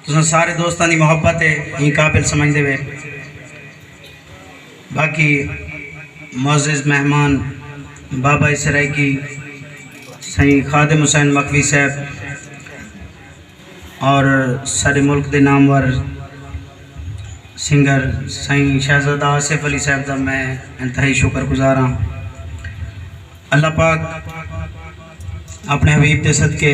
تساں سارے دوستاں دی محبت ہے ایں قابل سمجھدے وے باقی معزز مہمان بابا سرائیکی سائیں خادم حسین مخوی صاحب اور سارے ملک دے نامور سنگر سائیں شہزادہ آصف علی صاحب دا میں انتہائی شکر گزار ہاں اللہ پاک اپنے حبیب دے صدقے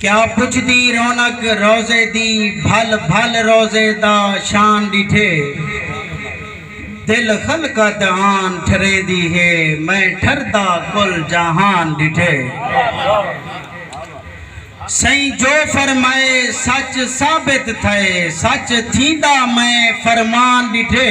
کیا پچھدی رونق روضے دی بھل بھل روضے دا شان ݙٹھے دل خلقہ دہان ٹھریندی ہے میں ٹھردا کل جہان ݙٹھے سئیں جو فرمائے سچ ثابت تھئے سچ تھیندا میں فرمان ݙٹھے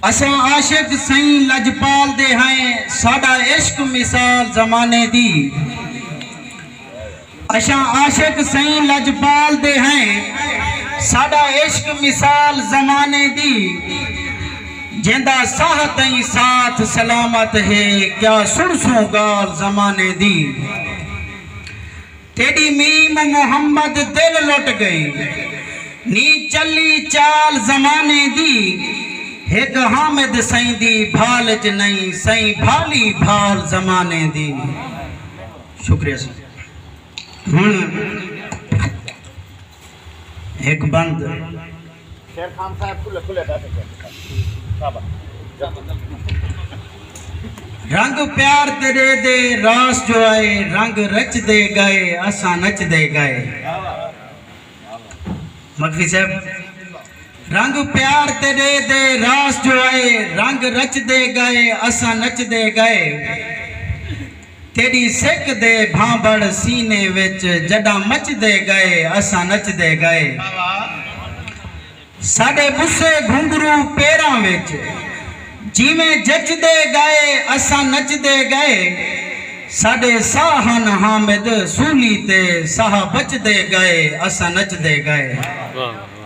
اساں عاشق سئیں لجپال دے ہئیں ساڈا عشق مثال زمانے دی اساں عاشق سئیں لجپال دے ہئیں ساڈا عشق مثال زمانے دی جیندا ساہ تئیں ساتھ سلامت ہے کیا سنسوں گال زمانے دی تیݙی میم و محمد دل لٹ ڳئی نی چلی چال زمانے دی ہک حامد سئیں دی بھال اچ نئیں سئیں بھالی بھال زمانے دی شکریہ سئیں ہݨ ہک بند۔ رنگ پیار تیݙے دے راس جو آئے رنگ رچدے ڳئے اساں نچدے ڳئے۔ مدفی صاحب رنگ پیار تیݙے دے راس جو آئے رنگ رچدے ڳئے اساں نچدے ڳئے۔ تیݙی سک دے بھانبھڑ سینے وچ جݙاں مچدے ڳئے اساں نچدے ڳئے ساݙے ٻوسے گھنگھرو پیراں وچ جیویں جچدے ڳئے اساں نچدے ڳئے ساݙے ساہ ہن حامد سولی تے ساہ بچدے ڳئے اساں نچدے ڳئے۔